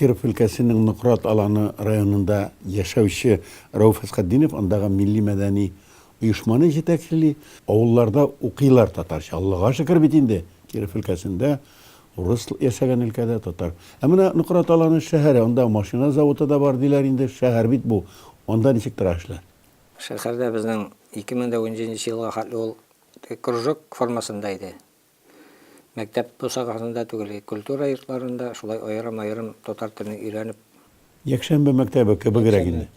Киров өлкәсенең Нократ Аланы районында яшәүче Рәүф Әсхәтдинов андагы милли-мәдәни оешманы җитәкчели. Авылларда укыйлар татарча. Аллага шөкер бит инде, Киров өлкәсендә Урыс яшәгән өлкәдә татар. Ә менә Нократ Аланы шәһәре, анда машина заводы да бар диләр инде, шәһәр бит бу, анда ничек тора эшләр? Шәһәрдә безнең 2009 нче елга хәтле ул кружок формасында иде. Мәктәп бусагасында түгел, культура йортларында шулай аерым-аерым татар телен өйрәнеп. Якшәмбе мәктәбе кебегрәк инде.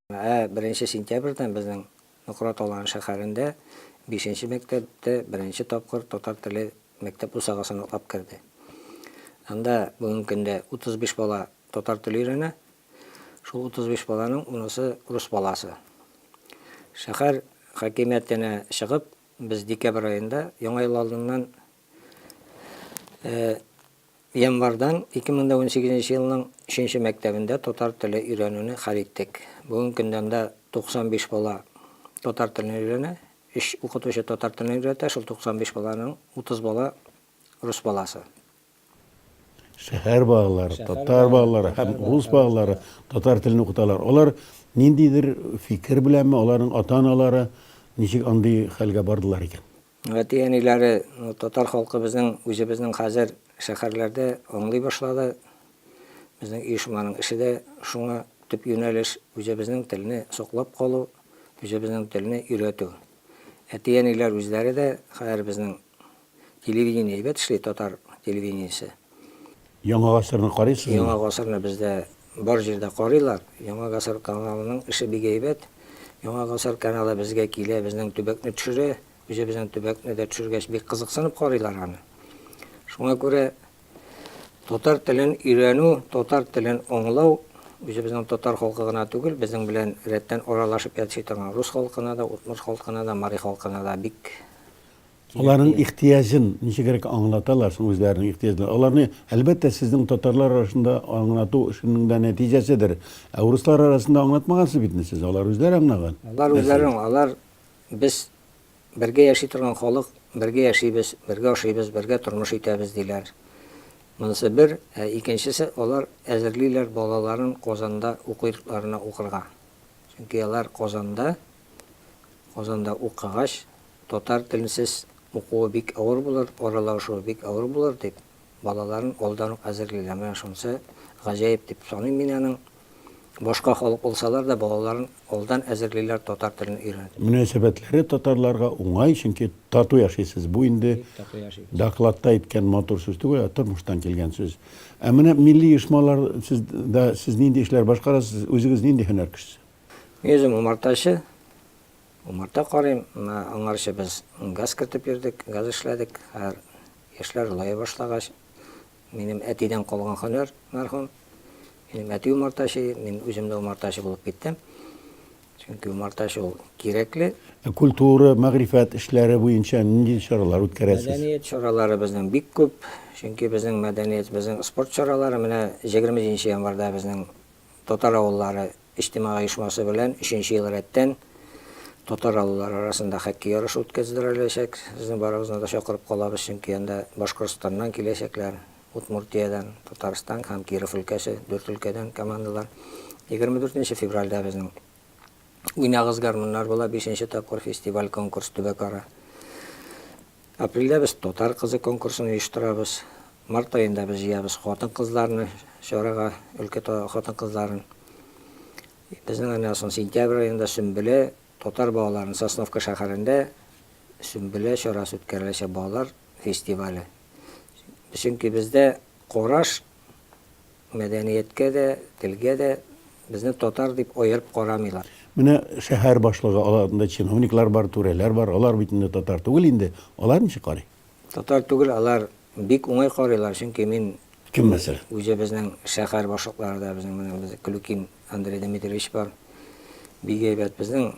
Ә беренче сентябрьдән безнең Нукрат Талан шәһәрендә бишенче мәктәп тә беренче тапкыр татар теле мәктәп бусагасын атлап керде. Анда бүгенге көндә 35 бала татар теле өйрәнә. Шул 35 баланың унысы рус баласы. Шәһәр хакимиятенә чыгып, без декабрь аенда, Яңа ел алдыннан, Январьдан 2018 нче елның өченче мәктәбендә татар теле өйрәнүне хәл иттек. Бүген көндәмдә 95 бала татар телен өйрәнә. Өч укытучы татар телен өйрәтә, шул 95 баланың 30 бала рус баласы. Шәһәр балалары, татар балалары һәм рус балалары татар телен укыталар. Алар ниндидер фикер беләнме, аларның ата-аналары ничек андый хәлгә бардылар икән? Әти-әниләре, татар халкы безнең үзебезнең хәзер шәһәрләрдә аңлый башлады. Безнең оешманың эше дә шуңа төп юнәлеш, үзебезнең телне саклап калу, үзебезнең телне өйрәтү. Әти-әниләр үзләре дә хәзер безнең телевидение әйбәт эшли, татар телевидениесе. Яңа гасырны карыйсызмы? Яңа гасырны бездә бар җирдә карыйлар. Яңа гасыр каналының эше бик әйбәт. Яңа гасыр каналы безгә килә, безнең төбәкне төшерә. Үзебезнең төбәкне дә төшергәч, бик кызыксынып карыйлар аны. Шуңа күрә татар телен өйрәнү, татар телен аңлау үзебезнең татар халкы гына түгел, безнең белән рәттән аралашып яши торган рус халкына да, удмурт халкына да, мари халкына да бик Аларның ихтыяҗын ничегрәк аңлаталар соң үзләренең ихтыяҗларын? Аларны, әлбәттә, сезнең татарлар арасында аңлату эшенең дә нәтиҗәседер. Ә урыслар арасында аңлатмагансыз бит инде сез, алар үзләре аңлаган. Алар үзләре аңлый. Алар, без бергә яши торган халык, бергә яшибез, бергә ашыйбыз, бергә тормыш итәбез, диләр. Монысы бер, ә икенчесе, алар әзерлиләр балаларын Казанда укырларына укырга. Чөнки алар Казанда. Казанда укыгач, татар теленсез укуы бик авыр булыр, аралашуы бик авыр булыр дип, балаларын алдан ук әзерлиләр. Менә шунысы гаҗәеп дип саныйм мин аның. Башка халык булсалар да, балаларын алдан әзерлиләр татар телен өйрәнеп. Мөнәсәбәтләре татарларга уңай, чөнки тату яшисез. Бу инде докладта әйткән матур сүз түгел, ә тормыштан килгән сүз. Ә менә милли оешмалар, сез дә, сез нинди эшләр башкарасыз, үзегез нинди һөнәр кешесе? Үзем умартачы. Умарта карыйм. Аңарчы без газ кертеп йөрдек, газ эшләдек. Хәзер яшьләр олая башлагач, минем әтидән калган һөнәр, мәрхүм. Минем әти умартачы иде, мин үзем дә умартачы булып киттем. Чөнки умартачы ул кирәкле. Культура, мәгърифәт эшләре буенча нинди чаралар үткәрәсез? Мәдәният чаралары безнең бик күп. Чөнки безнең мәдәният, безнең спорт чаралары менә 27 нче январьда безнең Татар авыллары иҗтимагый оешмасы белән өченче ел рәттән татар авыллары арасында хоккей ярышы үткәздереләчәк. Сезне барыгызны да чакырып калабыз, чөнки анда Башкортстаннан киләчәкләр, Удмуртиядән, Татарстан һәм Киров өлкәсе, дүрт өлкәдән командалар. Егерме дүртенче февральдә безнең Уйнагыз, гармуннар була бишенче тапкыр фестиваль-конкурс төбәкара. Апрельдә без Татар кызы конкурсын оештырабыз. Март аенда без җыябыз хатын-кызларны чарага, өлкә хатын-кызларын. Безнең аннан соң сентябрь аенда Сөмбелә татар балаларын Сосновка шәһәрендә Сөмбелә чарасы үткәреләчәк балалар фестивале. Чөнки бездә караш Мәдәнияткә дә, телгә дә безне татар дип аерып карамыйлар. Менә шәһәр башлыгы, аларында чиновниклар бар, түрәләр бар, алар бит инде татар түгел инде, алар ничек карый? Татар түгел, алар бик уңай карыйлар, чөнки мин Кем мәсәлән? Үзебезнең шәһәр башлыклары да безнең менә без Клюкин Андрей Дмитриевич бар. Бик әйбәт. Безнең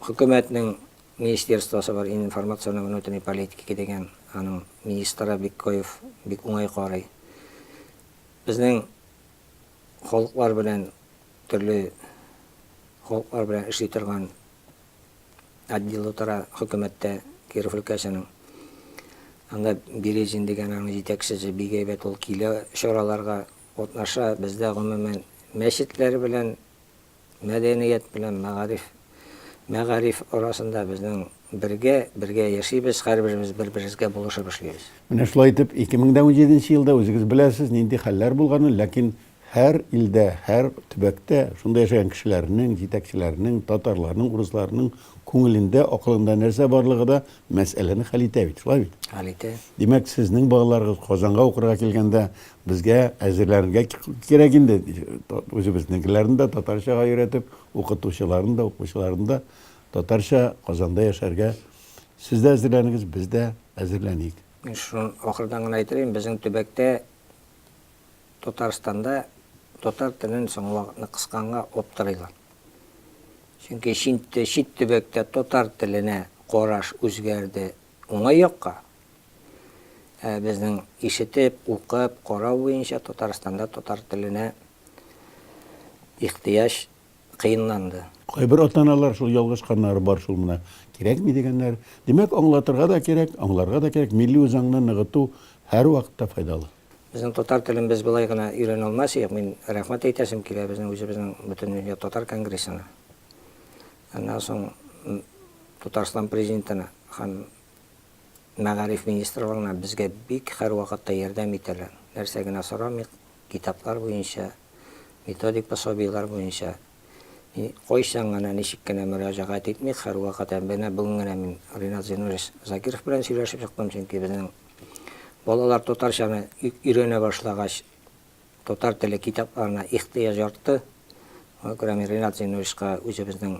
хөкүмәтнең министерствосы бар, информационный внутренней политики дигән, аның министры Биккоев бик уңай карый. Безнең халыклар белән, төрле халыклар белән эшли торган отдел утыра хөкүмәттә Киров өлкәсенең. Анда Березин дигән аның җитәкчесе бик әйбәт, ул килә чараларга, катнаша. Бездә, гомумән, мәчетләр белән Мәдәният белән мәгариф, мәгариф арасында безнең бергә, бергә яшибез, һәрберебез бер-беребезгә булышып эшлибез. Менә шулай итеп, 2017 нче елда үзегез беләсез, нинди хәлләр булганын, ләкин һәр илдә, һәр төбәктә шунда яшәгән кешеләрнең, җитәкчеләрнең, татарларның, урысларның күңелендә, акылында нәрсә барлыгы да Мәсьәләне хәл итә бит, шулай бит? Хәл итә. Димәк, сезнең балаларыгыз Казанга укырга килгәндә безгә әзерләргә кирәк инде. Үзебезнекеләрне дә татарчага өйрәтеп, укытучыларын да, укучыларын да татарча Казанда яшәргә сез дә әзерләнегез, без дә әзерләник. Мин шуны ахырдан гына әйтер идем, безнең төбәктә Татарстанда татар телен соңгы вакытны кысканга аптырыйлар. Чөнки чит төбәктә татар теленә караш үзгәрде уңай якка, ә безнең ишетеп, укып, карау буенча Татарстанда татар теленә ихтыяҗ кыенланды. Кайбер ата-аналар шул ялгышканнары бар шул менә, кирәкми дигәннәр. Димәк, аңлатырга да кирәк, аңларга да кирәк, милли үзаңны ныгыту һәрвакытта файдалы. Безнең татар телен без болай гына өйрәнә алмас идек. Мин рәхмәт әйтәсем килә безнең үзебезнең Бөтендөнья татар конгрессына, аннан соң Татарстан Президентына һәм мәгариф министрлыгына безгә бик һәрвакытта ярдәм итәләр. Нәрсә генә сорамыйк, китаплар буенча, методик пособиеләр буенча кайчан гына, ничек кенә мөрәҗәгать итмик, һәрвакыт һәм менә бүген генә мин Ринат Зинурович Закиров белән сөйләшеп чыктым, чөнки безнең балалар татарчаны өйрәнә башлагач, татар теле китапларына ихтыяҗ артты. Шуңа күрә мин Ринат Зинуровичка үзебезнең